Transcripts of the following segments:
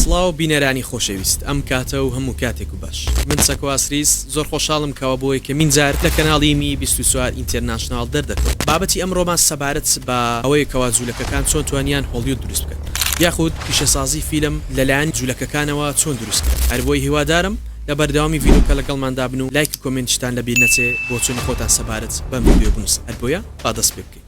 سڵاو بینەرانی خۆشەویست ئەم کاتە و هەموو کاتێک و باش من سەکواسریس زۆر خۆشحاڵم کەەوە بۆ یەکەمین جار لە کەناڵی می 24 ئینتەرناشنناڵ دەردەکەوت بابەتی ئەمڕۆمان سەبارەت بە ئەوەیە کەوا جوولەکەکان چۆن توانیان هۆڵیود دروست بکەن یاخود پیشەسازی فیلم لەلایەن جوولەکەکانەوە چۆن دروستکرا هەر بۆی هیوادارم لە بەردەوامی ڤیدۆکە لەگەڵمان دابن و لایک و کۆمێنتیشتان لە بیر نەچێ بۆچوونی خۆتان سەبارەت بەم ڤیدیۆ بنووسن هەر بۆیە با دەست پێ بکەین.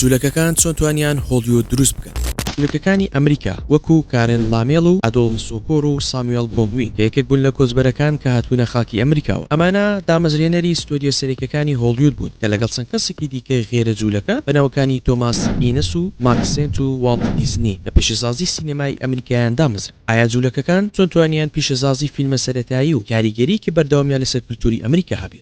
جولەکەکان چۆن توانیان هۆڵیود دروست بکەن؟ جولەکەکانی ئەمریکا وەکو کارێن لامێڵ و ئادۆڵف سۆکۆر و ساموێڵ گۆلدوین کە یەکێک بوون لە کۆچبەرەکان کە هاتبوونە خاکی ئەمریکاوە ئەمانە دامەزرێنەری ستۆدیۆ سەرێکەکانی هۆڵیود بوون کە لەگەڵ چەند کەسێکی دیکەی غەیرە جولەکە بە ناوەکانی تۆماس ئینس و ماک سێنت و واڵت دیزنی لە پیشەسازی سینەمای ئەمریکایان دامەزران ئایا جولەکەکان چۆن توانیان پیشەسازی فیلمە سەرەتایی و کاریگەریەکی بەردەوامیان لەسەر کلتوری ئەمریکا هەبێت؟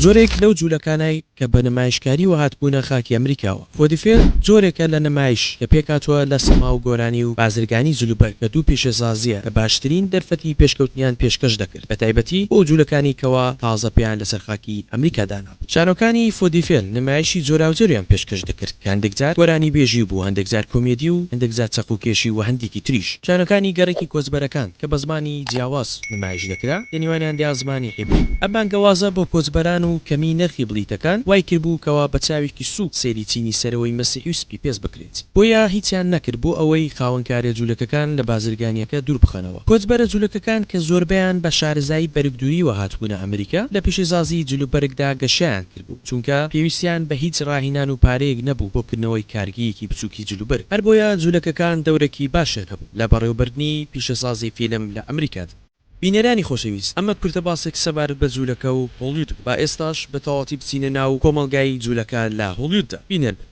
جۆرێک لەو جولەکانای کە بە نمایشکاریوە هاتبوونە خاکی ئەمریکاوە. فۆدیفێر جۆرێکە لە نمایش کە پێکهاتووە لە سەماو گۆرانی و بازرگانی جلوبەرگ کە دوو پیشەسازییە کە باشترین دەرفەتی پێشکەوتنیان پێشکەش دەکرد بەتایبەتی بۆ جولەکانی کەوا تازە پێیان لەسەر خاکی ئەمریکا دانا. شانۆکانی فۆدیفێل نمایشی جۆراوجۆریان پێشکەش دەکرد کە هەندێک جار گۆرانیبێژی بوو، هەندێک جار کۆمێدی و هەندێک جار چەقوکێشی و هەندێکی تریش. شانۆکانی گەڕەکی کۆچبەرەکان کە بە زمانی جیاواز نمایش دەکرا، لە نێوانیاندا زمانی عیبری بوو. ئەم بانگەوازە بۆ کۆچبەران و کەمیی نرخی بلیتەکان وای کردبوو کەوا بە چاوێکی سووک سەیری چینی سەرەوەی مەسیحی و سپیپێست بکرێت. بۆیە هیچیان نەکرد بۆ ئەوەی خاوەنکارە جولەکەکان لە بازرگانیەکە دوور بخەنەوە. کۆچبەرە جولەکەکان کە زۆربەیان بە شارەزایی بەرگ دووریوە هاتبوونە ئەمریکا، لە پیشەسازی جل و بەرگدا گەشەیان کردبوو، چونکە پێویستیان بە هیچ ڕاهینان و پارەیەک نەبوو بۆ کردنەوەی کارگەیەکی بچووکی جل و بەرگ، هەربۆیە جولەکەکان دەورەکی باشیان هەبوو لە بەڕێوەبردنی پیشەسازی فیلم لە ئەمریکادا. بینەرانی خۆشەویست، ئەمە کورتە باسێک سەبارەت بە جوولەکە و هۆڵیود بوو، با ئێستاش بە تەواوەتی بچینە ناو کۆمەڵگای جوولەکە لە هۆڵیوددا. بینەر بن.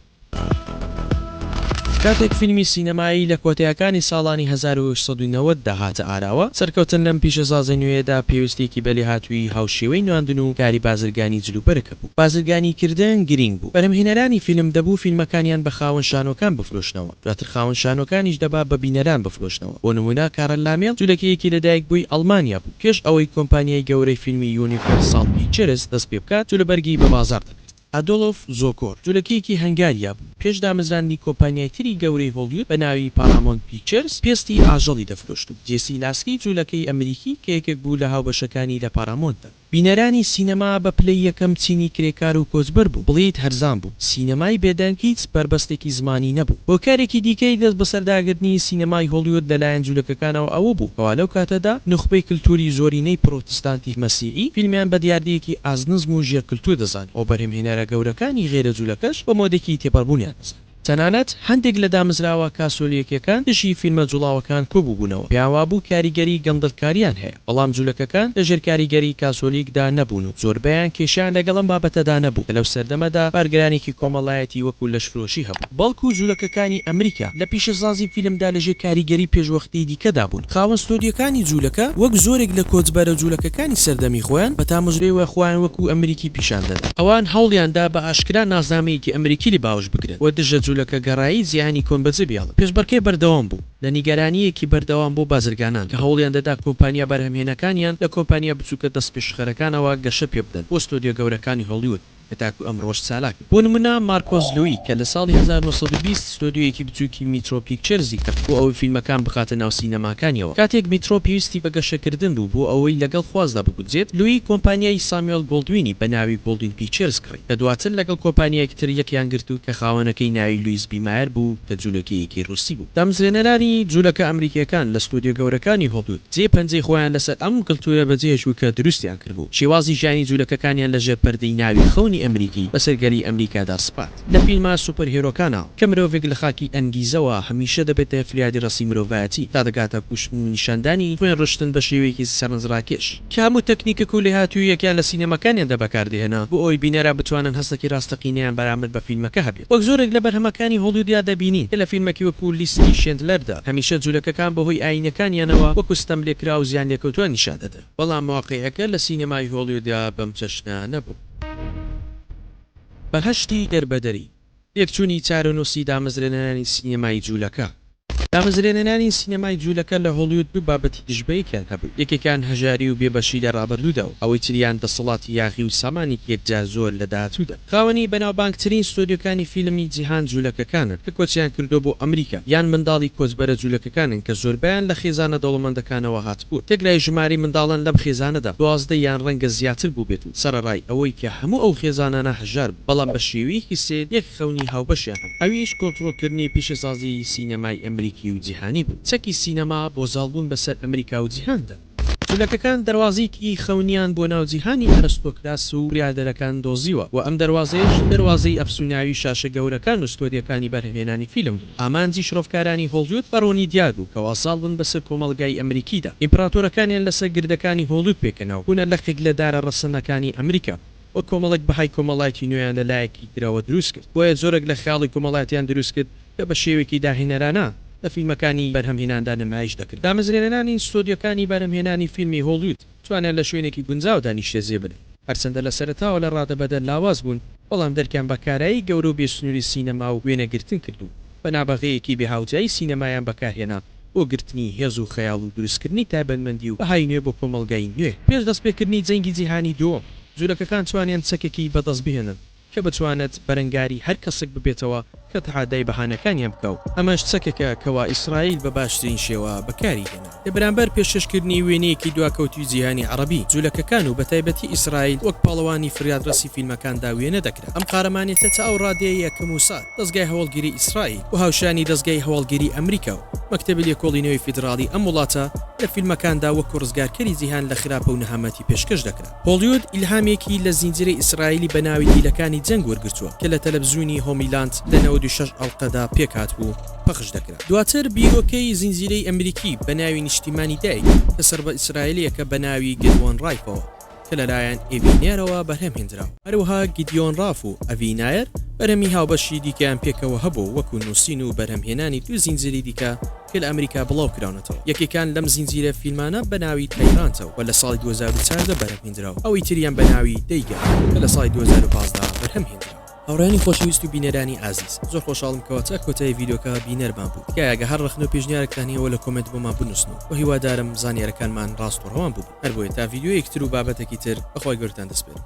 کاتێک فیلمی سینەمایی لە کۆتایەکانی ساڵانی هەزار و هەشت سەد و نەوەد دا هاتە ئاراوە، سەرکەوتن لەم پیشەسازە نوێیەدا پێویستییەکی بە لێهاتوویی هاوشێوەی نواندن و کاری بازرگانی جلوبەرگ هەبوو. بازرگانیکردن گرینگ بوو. بەرهەمهێنەرانی فیلم دەبوو فیلمەکانیان بە خاوەن شانۆکان بفرۆشنەوە. دواتر خاوەن شانۆکانیش دەبا بە بینەران بفرۆشنەوە، بۆ نموونە کارل لامێل، جولەکەیەکی لەدایکبووی ئەڵمانیا بوو، پێش ئەوەی کۆمپانیای گەورەی فیلمی یونیڤەرساڵ پیکچرز دەست پێ بکات، جولەبەرگی بە بازاڕ دەکرد. ئادۆلف زۆکۆر، جولەکەیەکی هەنگاریا بوو، پێش دامەزراندنی کۆمپانیای تری گەورەی هۆڵیود بە ناوی پارامۆنت پیکچرز، پێستی ئاژەڵی دەفرۆشت و جێسی لاسکی، جولەکەی ئەمریکی کە یەکێک بوو لە هاوبەشەکانی لە پارامۆنتدا، بینەرانی سینەما بە پلەی یەکەم چینی کرێکار و کۆچبەر بوو، بڵێیت هەرزان بوو، سینەمای بێدەنگ هیچ بەربەستێکی زمانی نەبوو. هۆکارێکی دیکەی دەستبەسەرداگرتنی سینەمای هۆڵیود لەلایەن جولەکەکانەوە ئەوە بوو کەوا لەو کاتەدا نوخبەی کلتوری زۆرینەی پرۆتستانتی مەسیحی فیلمیان بە دیاردەیەکی ئازنزم و ژێرکلتور دەزانی و بەرهەمهێنەرە گەورەکانی غەیرە جولەکەش بە مۆدێکی تێپەڕبوونیان دەزانی. تەنانەت هەندێک لە دامزراوە کاسۆلیەکیەکان دژی فیلمە جوڵاوەکان کۆبووبوونەوە، پێیان وابوو کاریگەری گەندەڵکاریان هەیە، بەڵام جولەکەکان لە ژێر کاریگەری کاسۆلیکدا نەبوون و زۆربەیان کێشەیان لەگەڵ ئەم بابەتەدا نەبوو کە لەو سەردەمەدا بارگرانێکی کۆمەڵایەتی وەکو لەشفرۆشی هەبوو. بەڵکو جولەکەکانی ئەمریکا لە پیشەسازی فیلمدا لەژێر کاریگەری پێشوەختەی دیکەدا بوون. خاوەن ستۆدیۆکانی جوولەکە وەک زۆرێک لە کۆچبەرە جوولەکەکانی سەردەمی خۆیان بە تامەزرۆیەوە خۆیان وەکوو ئەمریکی پیشان دەدا. ئەوان هەوڵیان دا بە ئاشکرا ناسنامەیەکی ئەمریکی لێ باوەش بکرێت و دژە جوولەکەگەرایی جیهانی کۆن بەجێ بهێڵن. پێشبڕکێ بەردەوام بوو لە نیگەرانییەکی بەردەوام بۆ بازرگانان کە هەوڵیان دەدا کۆمپانیا بەرهەمهێنەکانیان لە کۆمپانیا بچووکە دەستپێشخەرەکانەوە گەشە پێ بدەن بۆ ستۆدیۆ گەورەکانی هۆڵیوود. کە تاکو ئەمڕۆش چالاک بوو. بۆ نمونە مارکۆس لوی کە لە ساڵی هەزار و نۆ سەد و بیست ستۆدیۆیەکی بچوکی میترۆ پیکچەرزی کرد بۆ ئەوەی فیلمەکان بخاتە ناو سینەماکانیەوە. کاتێک میترۆ پێویستی بە گەشەکردن بوو بۆ ئەوەی لەگەڵ خوازدا بگونجێت، لوی کۆمپانیای سامیۆل گۆڵدوینی بە ناوی گۆڵدوین پیکچەرز کڕی کە دواتر لەگەڵ کۆپانیایەک تر یەکیان گرت و کە خاوەنەکەی ناوی لویس بی مایەر بوو کە جولەکەیەکی ڕوسی بوو. دامەزرێنەرانی جولەکە ئەمریکیەکان لە ستۆدیۆ گەورەکانی هۆڵدود جێ پەنجەی خۆیان لەسەر ئەم کلتورە بەجێهێشت و کە دروستیان. کردبوو، شێوازی ژیانی جولەکەکانیان لە ژێر پەردەی ناوی خەونی ئەمریکی بەسەر گەلی ئەمریکادا سپارد. لە فیلمە سوپەرهێرۆکانە کە مرۆڤێک لە خاکی ئەنگیزەوە هەمیشە دەبێتە فریادی ڕەسی مرۆڤایەتی تا دەگاتە کوشتن و نیشاندانی خوێن ڕشتن بە شێوەیەکی سەرنجڕاکێش کە هەموو تەکنیکەک و لێهاتووییەکیان لە سینەماکانیاندا بەکاردەهێنا بۆ ئەوەی بینەرا بتوانن هەستێکی ڕاستەقینەیان بەرامبەر بە فیلمەکە هەبێت وەک زۆرێک لە بەرهەمەکانی هۆڵیودیا دەبینین کە لە فیلمەکی وەکو لیستی شێندلەردا هەمیشە جولەکەکان بەهۆی ئایینەکانیانەوە وەکو ستەملێکراو و زیانلێکەوتوان نیشاندەدران. بەڵام واقیعەکە لە سینەمای هۆڵیودا بەم چەشنە نەبوو. بەهەشتی دەربەدەری، تێکچوونی چارەنووسی دامەزرێنەرانی سینەمای جوولەکە. دامەزرێنەرانی سینەمای جوولەکە لە هۆڵیود دوو بابەتی دژبەیەکیان هەبوو، یەکێکیان هەژاری و بێبەشی لە ڕابردوودا و ئەوەی تریان دەسەڵاتی یاخی و سامانێکی یەکجار زۆر لە داهاتوودا. خاوەنی بەناوبانگترین ستۆدیۆکانی فیلمی جیهان جولەکەکانن کە کۆچیان کردووە بۆ ئەمریکا یان منداڵی کۆچبەرە جولەکەکانن کە زۆربەیان لە خێزانە دەوڵەمەندەکانەوە هاتبوون تێکرای ژمارەی منداڵان لەم خێزانەدا دوازدە یان ڕەنگە زیاتر بووبێت و سەرەڕای ئەوەی کە هەموو ئەو خێزانانە هەژار بوون بەڵام بە شێوەیەکی سەیر یەک خەونی هاوبەشیان هەبوو ئەویش کۆنترۆڵکردنی پیشەسازیی سینەمای ئەمریکی و جیهانی بوو چەکی سینەما بۆ زاڵبوون بەسەر ئەمریکا و جیهاندا. جولەکەکان دەروازەیەکی خەونیان بۆ ناو جیهانی ئەرستۆکراس و بریادەرەکان دۆزیوە و ئەم دەروازەیەش دەروازەی ئەفسوناوی شاشە گەورەکان و ستۆدیۆکانی بەرهەمهێنانی فیلم بوو. ئامانجی شڕۆڤکارانی هۆڵیود بە ڕوونی دیار بوو کەوا زاڵ بن بەسەر کۆمەڵگای ئەمریکیدا، ئیمپراتۆرەکانیان لەسەر گردەکانی هۆڵیود پێکەنا و بوونە لقێک لە دارە ڕەسەنەکانی ئەمریکا. و کۆمەڵێک بەهای کۆمەڵایەتی نوێیان لە لایەکی ترەوە دروست کرد، بۆیە زۆرێک لە خەیاڵی کۆمەڵایەتیان دروست کرد کە بە شێوەیەکی داهێنەرانە لە فیلمەکانی بەرهەمهێناندا نمایش دەکرد. دامەزرێنەرانی ستۆدیۆکانی بەرهەمهێنانی فیلمی هۆڵیود توانیان لە شوێنێکی گونجاودا نیشتەجێ بن، هەرچەندە لە سەرەتاوە لە ڕادەبەدەر لاواز بوون، بەڵام دەرکیان بە کارایی گەورە و بێسنووری سینەما و وێنەگرتن کرد و بە نابەغەیەکی بێهاوتایی سینەمایان بەکارهێنا. بۆ گرتنی هێز و خەیاڵ و دروستکردنی تایبەتمەندی و بەهای نوێ بۆ کۆمەڵگای نوێ. پێش دەستپێکردنی جەنگی جیهانی دووەم، جولەکەکان توانیان چەکێکی بەدەستبهێنن کە بتوانێت بەرەنگاری هەر کەسێک ببێتەوە کە تەحادای بەهانەکانیان بکا و ئەمەش چەکێکە کەوا ئیسرائیل بە باشترین شێوە بەکاری هێنا لە بەرامبەر پێشکەشکردنی وێنەیەکی دواکەوتووی جیهانی عەڕەبی. جولەکەکان و بەتایبەتی ئیسرائیل وەک پاڵەوانی فریادڕەسی فیلمەکاندا وێنە دەکرا. ئەم قارەمانێتە تا ئەو ڕادەیە یە کە موساد. دەزگای هەواڵگیری ئیسرائیل و هاوشانی دەزگای هەواڵگیری ئەمریکا و مەکتەبی لێکۆڵینەوەی فیدراڵی ئەم وڵاتە لە فیلمەکاندا وەکو ڕزگارکەری جیهان لە خراپە و نەهامەتی پێشکەش دەکرا. هۆڵیود ئیلهامێکی لە زینجیرەی ئیسرائیلی بە ناوی دیلەکانی جەنگ وەرگرتووە کە لە تەلەفزیونی هۆمیلاند لە نەوەد و شەش ئەڵقەدا پێکهاتبوو و پەخش دەکرا. دواتر بیرۆکەی زینجیرەی ئەمریکی بە ناوی نیشتیمانی دایک کە سەربە ئیسرائیلیەکە بە ناوی گەروەن ڕایفەوە، کە لەلایەن ئیڤی نێرەوە بەرهەم هێنرا، هەروەها گیدیۆن ڕاف و ئەڤی نایەر بەرهەمی هاوبەشی دیکەیان پێکەوە هەبوو وەکو نووسین و بەرهەمهێنانی دوو زینجیری دیکە کە لە ئەمریکا بڵاوکراونەتەوە یەکێکیان لەم زینجیرە فیلمانە بەناوی تایرانتە و لە ساڵی دوو هەزار و چاردە بەرهەمهێنرا و ئەوی تریان بەناوی دەیگا کە لە ساڵی دوو هەزار و پازدە بەرهەمهێنرا. هاوڕێیانی خۆشەویست و بینەرانی ئازیز زۆر خۆشحاڵم کەوا تا کۆتایی ڤیدیۆکە بینەرمان بوون تکایە ئەگە هەر ڕەخنە و پێشنیارێکتان هەیە ئەوە لە کۆمێنت بۆمان بنووسن و هیوادارم زانیارەکانمان ڕاست و ڕەوان بووبن هەربۆیە تا ڤیدیۆیەکی تر و بابەتێکی تر بەخوای گەورەتان دەسپێرم